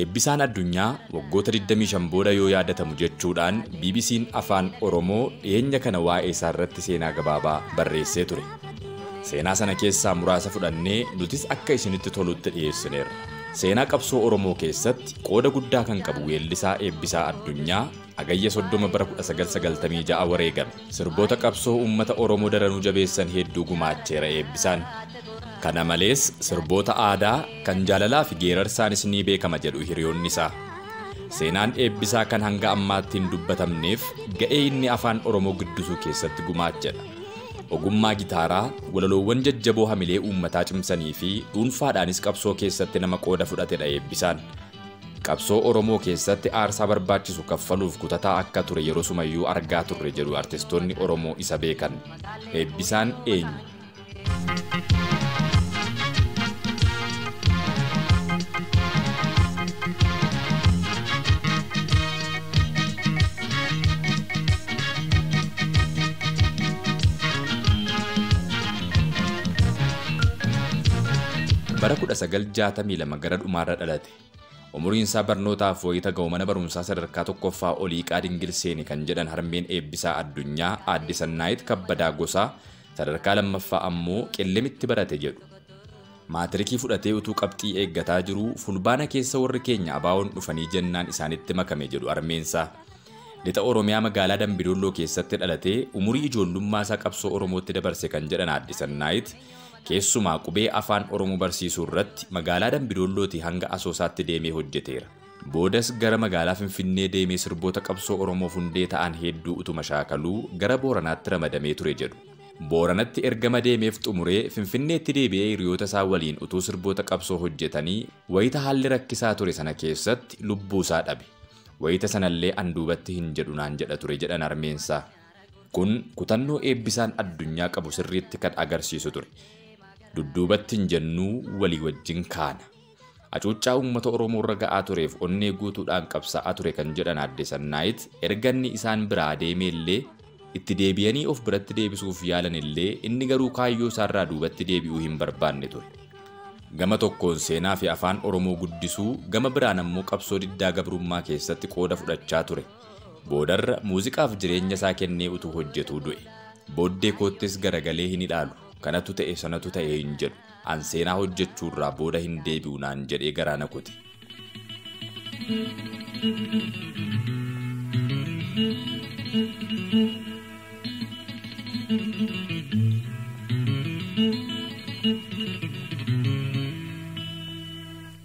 Eebbisaan Addunyaa waggoota 25 booda yoo yaadatamu jechuudhaan BBC'n Afaan Oromoo dhiyeenya kana waa'eesaarratti seenaa gabaabaa barreessee ture. Seenaa sana keessaa muraasa fudhannee nutis akka isinitti tolutti dhiyeessineerra. Seenaa qabsoo Oromoo keessatti qooda guddaa kan qabu weellisaa Eebbisaa Addunyaa Hagayya 30 bara 1996 wareegame. Sirboota qabsoo uummata Oromoo daranuu jabeessan hedduu gumaacheera Eebbisaan. Kana malees, sirboota aadaa, kan jaalalaafi geerarsaanis ni beekama jedhu hiriyoonni isaa. Seenaan Eebbisaa kan hanga ammaatti hin dubbatamneef ga'ee inni Afaan Oromoo guddisuu keessatti gumaachedha. Ogummaa gitaaraa, walaloowwan jajjaboo hamilee uummataa cimsaniifi dhuunfaadhaanis qabsoo keessatti nama qooda fudhatedha Eebbisaan. Qabsoo Oromoo keessatti aarsaa barbaachisu kaffaluuf kutataa akka ture yerosumayyuu argaa turre jedhu artistoonni Oromoo isa beekan. Eebbisaan eenyu? Bara 1962 gara dhumaarra dhalate. Umuriinsaa barnootaaf wayita ga'u mana barumsaa sadarkaa tokkoffaa Oliiqaa Dingil seene kan jedhan harmeen Eebbisaa Addunyaa aadde Sannaayit Kabbadaa Gosaa sadarkaa lammaffaa ammoo Qellemitti barate jedhu. Maatirikii fudhatee utuu qabxii eeggataa jiruu Fulbaana keessa warri keenya ABOn dhufanii jennaan isaanitti makame jedhu harmeensaa. Lixa Oromiyaa magaalaa Dambi Dolloo keessatti dhalatee umurii ijoollummaasaa qabsoo Oromootti dabarse kan jedhan aadde Sannaayit Keessumaa qubee Afaan Oromoo barsiisuu irratti magaalaa Dambidoollootii hanga Asoosaatti deemee hojjeteera. Boodas gara magaalaa Finfinnee deemee sirboota qabsoo Oromoof hundee ta'an hedduu utuma shaakaluu gara Booranaatti ramadamee ture jedhu. Booranatti ergama deemeef xumuree Finfinneetti deebi'ee hiriyoota isaa waliin utuu sirboota qabsoo hojjetanii wayita haalli rakkisaa ture sana keessatti lubbuu isaa dhabe. Wayita sanallee an duubatti hin jedhu naan jedha ture jedhan harmeen isaa. Kun kutannoo Eebbisaan addunyaa qabu sirriitti kan agarsiisu ture. Dudduubatti hin jennuu walii wajjin kaana. Acuuccaa uummata Oromoorra ga'aa tureef onnee guutuudhaan qabsaa'aa ture kan jedhan Aadde Sannaayit erga inni isaan biraa deemeellee itti deebiyanii of biratti deebisuuf yaalanillee inni garuu kaayyoo isaarraa duubatti deebi'uu hin barbaanne ture. Gama tokkoon seenaafi afaan Oromoo guddisuu, gama biraan ammoo qabsoo diddaa gabrummaa keessatti qooda fudhachaa ture. Boodarra muuziqaaf jireenya isaa kennee utuu hojjetuu du'e. Booddee koottis garagalee hin ilaalu. Kanatu ta'e sanatu ta'e hin jedhu. An seenaa hojjechuurraa booda hin deebi'u naan jedhee garaa na kute.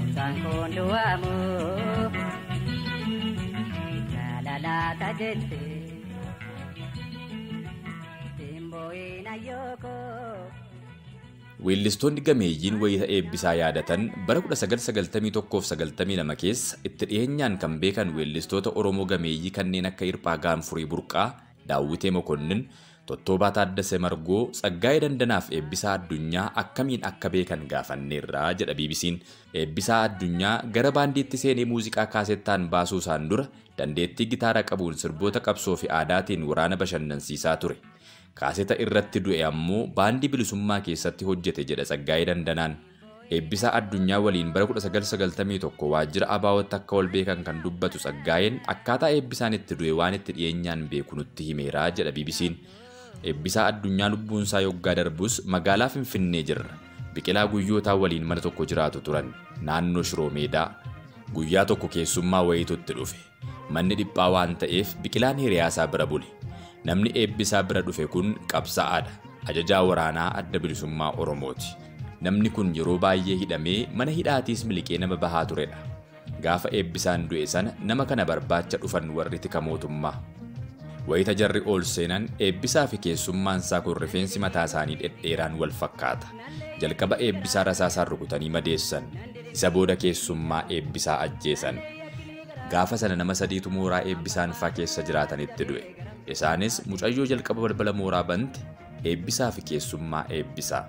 Mucaan kun du'aamu jaalalaata jette simbooyin ayyooko. Weellistoonni gameeyyiin wayita eebbisaa yaadatan bara 1991-92 keessa itti dhiyeenyaan kan beekan weellistoota Oromoo gameeyyii kanneen akka Hirphaa Gaanfurii Burqaa, Daawwitee Mokonnin, Tottoobaa Taaddasee Margoo, Tsaggaayee Dandanaa fi Eebbisaa Addunyaa akkamiin akka beekan gaafanneerra jedha BBC'n. Eebbisaa Addunyaa gara baandiitti seenee muuziqaa kaasettaan baasuusaan dura dandeettii gitaara qabuun sirboota qabsoo fi aadaatiin waraana bashannansiisaa ture. Kaaseta irratti du'e ammoo baandii Bilisummaa keessatti hojjete jedha Tsaggaayee Dandanaan. Eebbisaa Addunyaa waliin bara 1991 waajjira ABOtti akka wal beekan kan dubbatu Tsaggaayeen akkaataa Eebbisaan itti du'e waan itti dhiyeenyaan beeku nutti himeera jedha BBC'n. Eebbisaa Addunyaa lubbuunsaa yoggaa darbus magaalaa Finfinnee jirra. Biqilaa Guyyootaa waliin mana tokko jiraatu turan. Naannoo Shiroo Meedaa. Guyyaa tokko keessummaa wayiitu itti dhufe. Manni dhiphaa waan ta'eef Biqilaan hiriyaasaa bira bule. Namni Eebbisaa bira dhufe kun qabsa'aadha. Ajajaa waraanaa Adda Bilisummaa Oromooti. Namni kun yeroo baay'ee hidhamee mana hidhaatiis miliqee nama bahaa turedha. Gaafa Eebbisaan du'e sana nama kana barbaacha dhufan warri tika mootummaa. Wayita jarri ol seenan Eebbisaafi keessummaansaa kun rifeensi mataasaanii dhedheeraan wal fakkaata. Jalqaba Eebbisaa rasaasaan rukutanii madeessan. Isa booda keessummaa Eebbisaa ajjeesan. Gaafa sana nama sadiitu mooraa eebbisaan faa keessa jiraatanitti du'e. Isaanis mucayyoo jalqaba balbala mooraa bante eebbisaa fi keessummaa eebbisaa.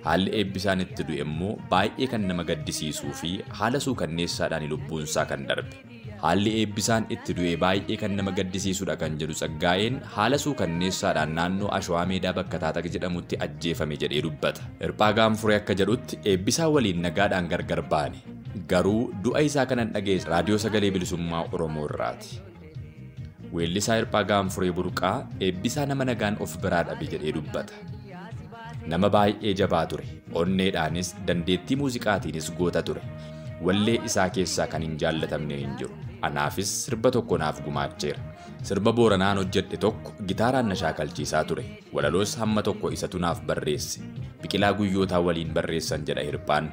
Haalli eebbisaan itti du'e immoo baay'ee kan nama gaddisiisuu fi haala suukanneessaadhaan lubbuunsaa kan darbe. Haalli eebbisaan itti du'e baay'ee kan nama gaddisiisudha kan jedhu Tsaggaayeen haala suukanneessaadhaan naannoo Ashawaa Meedaa bakka Taataq jedhamutti ajjeefame jedhee dubbata. Hirphaa Gaanfuree akka jedhutti eebbisaa waliin nagaadhaan gargar baane. Garuu du'a isaa kanan dhaga'e Raadiyoo Sagalee Bilisummaa Oromoo irraati. Weellisaa Hirphaa Gaanfuree Burqaa eebbisaa nama nagaan of biraa dhabe jedhee dubbata. Nama baay'ee jabaa ture. Onneedhaanis dandeettii muuziqaatiinis goota ture. Wallee isaa keessaa kan hin jaallatamne hin jiru. Anaafis sirba tokko naaf gumaacheera. Sirba Booranaan hojjedhe tokko gitaaraan na shaakalchiisaa ture. Walaloos hamma tokko isatu naaf barreesse. Biqilaa Guyyootaa waliin barreessan jedha Hirphaan.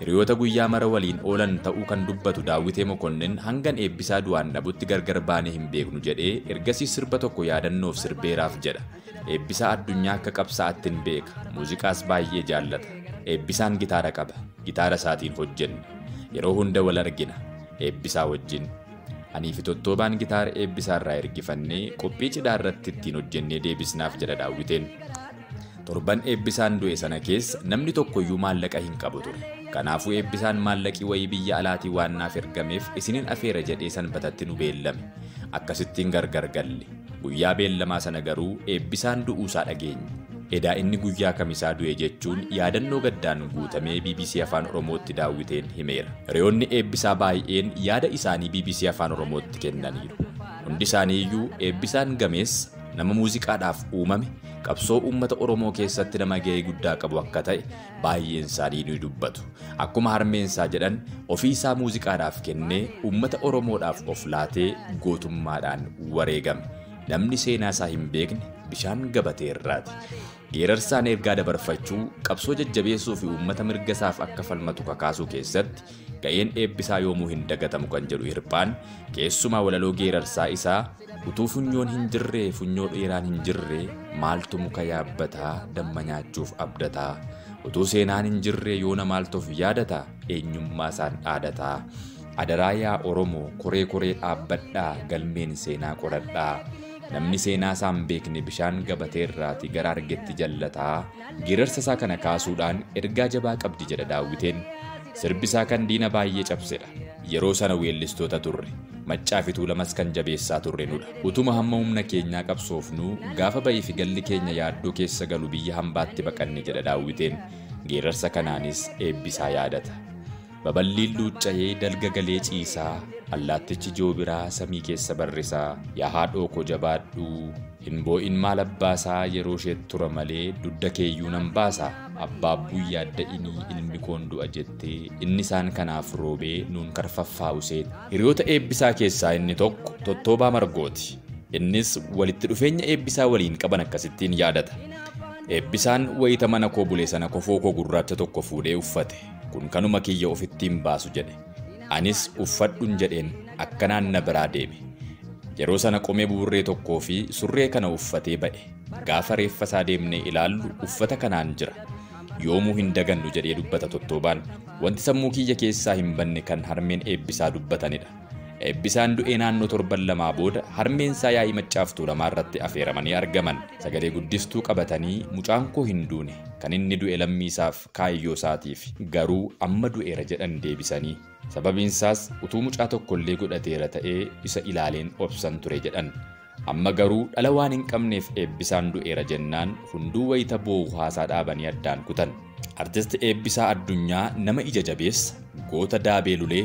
Hiriyoota guyyaa mara waliin oolan ta'uu kan dubbatu Daawwitee Mokonnin hangan eebbisaa du'aan dhabutti gargar baanee hin beeknu jedhee ergasii sirba tokko yaadannoof sirbeeraaf jedha. Eebbisaa addunyaa akka qabsaa'atti hin beeka. Muuziqaas baay'ee jaallata. Eebbisaan gitaara qaba. Gitaara isaatiin hojjenne. Yeroo hunda wal argina. Eebbisaa wajjin. Anii fi Tottoobaan gitaara eebbisaa irraa ergifannee qophii cidhaa irratti ittiin hojjennee deebisnaaf jedha Daawwiteen. Torban eebbisaan du'e sana keessa namni tokkoyyuu maallaqa hin qabu ture. Kanaafuu eebbisaan maallaqii wayii biyya alaatii waan naaf ergameef isinin afeera jedhee sanbatatti nu beellame. Akkasittiin gargar galle. Guyyaa beellamaa sana garuu Eebbisaan du'uusaa dhageenye. Edaa inni guyyaa Kamisaa du'e jechuun yaadannoo gaddaan guutamee bbc Afaan Oromootti Daawwiteen himeera. Hiriyoonni Eebbisaa baayi'een yaada isaanii bbc Afaan Oromootti kennaniiru. Hundi isaaniiyyuu Eebbisaan gameessa, nama muuziqaadhaaf uumame, qabsoo uummata Oromoo keessatti nama ga'ee guddaa qabu akka ta'e, Baay'een isaanii ni dubbatu. Akkuma harmeen isaa jedhan ofii isaa muuziqaadhaaf kennee uummata Oromoodhaaf of laatee gootummaadhaan wareegame. Namni seenaa isaa hin beekne bishaan gabatee irraati. Geerarsaan ergaa dabarfachuu, qabsoo jajjabeessuu fi uummata mirga isaaf akka falmatu kakaasuu keessatti ga'een eebbisaa yoomuu hin dagatamu kan jedhu hirphaan keessumaa walaloo geerarsaa isaa Utuu funyoon hin jirree funyoo dheeraan hin jirree maaltu muka yaabbataa damma nyaachuuf abdataa utuu seenaan hin jirree yoona maaltuuf yaadata eenyummaa isaan dhaadataa adaraa yaa oromoo koree koree dhaabbadhaa galmeen seenaa qoradhaa namni seenaa isaan beekne bishaan gabatee irraati gara argetti jallataa geerarsa isaa kana kaasuudhaan ergaa jabaa qabdi jedha daawwiteen sirbi isaa kan diina baay'ee cabsedha. Yeroo sana weellistoota turre. Maccaafi Tuulamas kan jabeessaa turre nudha. Utuma hamma humna keenyaa qabsoofnuu gaafa ba'iifi galli keenya yaaddoo keessa galu biyya hambaatti baqanne jedha Daawwiteen geerarsa kanaanis Eebbisaa yaadata. Baballiin luucca'ee dalga galee ciisaa, allaattichi joobiraa samii keessa barrisaa, yaa haadhooko jabaadhu! Hin boo'in maal abbaasaa yeroo isheet tura malee dudda keeyyuu nan baasa abbaabbuun yaadda'inii ilmi koon du'a jettee inni isaan kanaaf roobee nuun karfaffaa useet. Hiriyoota Eebbisaa keessaa inni tokko Tottoobaa Margooti. Innis walitti dhufeenya Eebbisaa waliin qaban akkasittiin yaadata. Eebbisaan wayita mana koo bule sana kofoo koo gurraacha tokko fuudhee uffate. Kun kanuma kiyya ofittiin baasu jedhe. Anis uffadhun jedheen akkanaan na biraa deeme. Yeroo sana qomee buburree tokkoo fi surree kana uffatee ba'e. Gaafa reeffa isaa deemnee ilaallu uffata kanaan jira. Yoomuu hin dagannu jedhee dubbata Tottoobaan. Wanti sammuu kiyya keessaa hin banne kan harmeen Eebbisaa dubbatanidha. Eebbisaan du'ee naannoo torban lamaa booda harmeen isaa yaa'ii Maccaaf Tuulamaa irratti afeeramanii argaman. Sagalee guddistuu qabatanii mucaan koo hin duune, kan inni du'e lammii isaaf, kaayyoo isaatiif. Garuu amma du'eera jedhan deebisanii. Sababiin isaas utuu mucaa tokko illee godhateera ta'ee isa ilaaleen obsan ture jedhan. Amma garuu dhala waan hin qabneef Eebbisaan du'eera jennaan hunduu wayita boo'u haasaa dhaabanii addaan kutan. Artist Eebbisaa Addunyaa nama ija jabeessa, goota daabee lulee,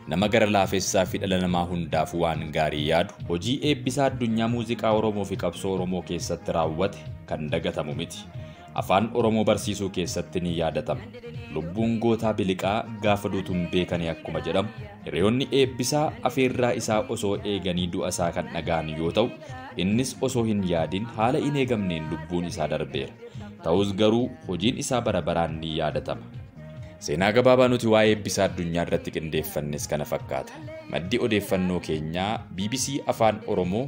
nama gara laafessaa fi dhala namaa hundaafuu waan gaarii yaadu. Hojii Eebbisaa Addunyaa muuziqaa Oromoo fi qabsoo Oromoo keessatti raawwate kan dagatamu miti. Afaan Oromoo barsiisuu keessatti ni yaadatama. Lubbuun gootaa biliqaa gaafa duutuun beekanii akkuma jedhamu hiriyoonni eebbisaa afeerraa isaa osoo eeganii du'a isaa kan dhaga'an yoo ta'u innis osoo hin yaadin haala hin eegamneen lubbuun isaa darbeera. Ta'us garuu hojiin isaa bara baraan ni yaadatama. Seenaa gabaabaa nuti waa'ee eebbisaa addunyaa irratti qindeeffannes kana fakkaata. Maddi odeeffannoo keenyaa BBC Afaan Oromoo